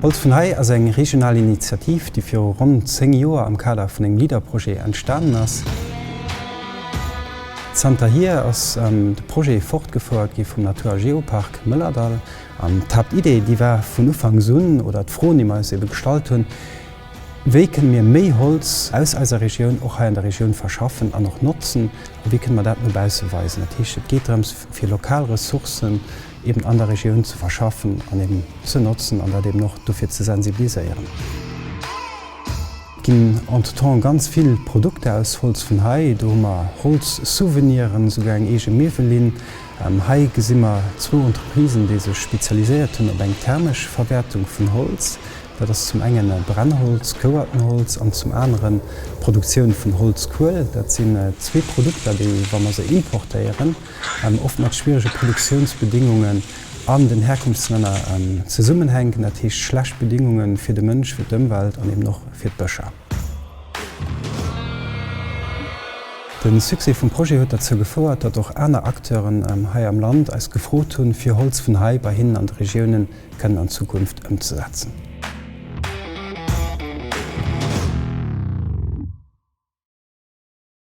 Holz vun hei ass eng regional Initiativ, déi viru ronn 10 Joer am Kader vun engem LEADER-Projet entstanen ass. Zanterhier ass de Projet fortgefouert gi vum Natur a Geopark Mëllerdall an d'Haaptidee, déi war vun Ufanks un, oder d'Froen, déi mer eis ebe gestallt hunn, Wéi kënne mir méi Holz aus eiser Regioun och hei an der Regioun verschaffen an och notzen a wéi kënne mer dat no bausse weisen? Dat heescht, et geet drëms, fir lokal Ressourcen eben an der Regioun ze verschaffen an eben ze notzen an dat eben och dofir ze sensibiliséieren. Et ginn entretemps ganz vill Produkter aus Holz vun hei. Do hu mer Holzsouveniren, esouguer eng eege Miwwellinn. Hei gesi mer zwou Entreprisen, déi sech spezialiséiert hunn op eng thermesch Verwäertung vun Holz. Dat ass zum engen Brennholz, gehouerten Holz, an zum aneren d'Produktioun vun Holzkuel. Dat sinn zwee Produkter, déi, wa mer se importéieren, oft mat schwierege Produktiounsbedingungen an den Herkunftslänner zesummenhänken, dat heescht schlecht Bedingunge fir de Mënsch, fir d'Ëmwelt an eben och fir d'Bëscher. De Succès vum Projet huet derzou gefouert, datt och aner Acteuren hei am Land eis gefrot hunn, fir Holz vun hei bei hinnen an de Regiounen kënnen an Zukunft ëmzesetzen.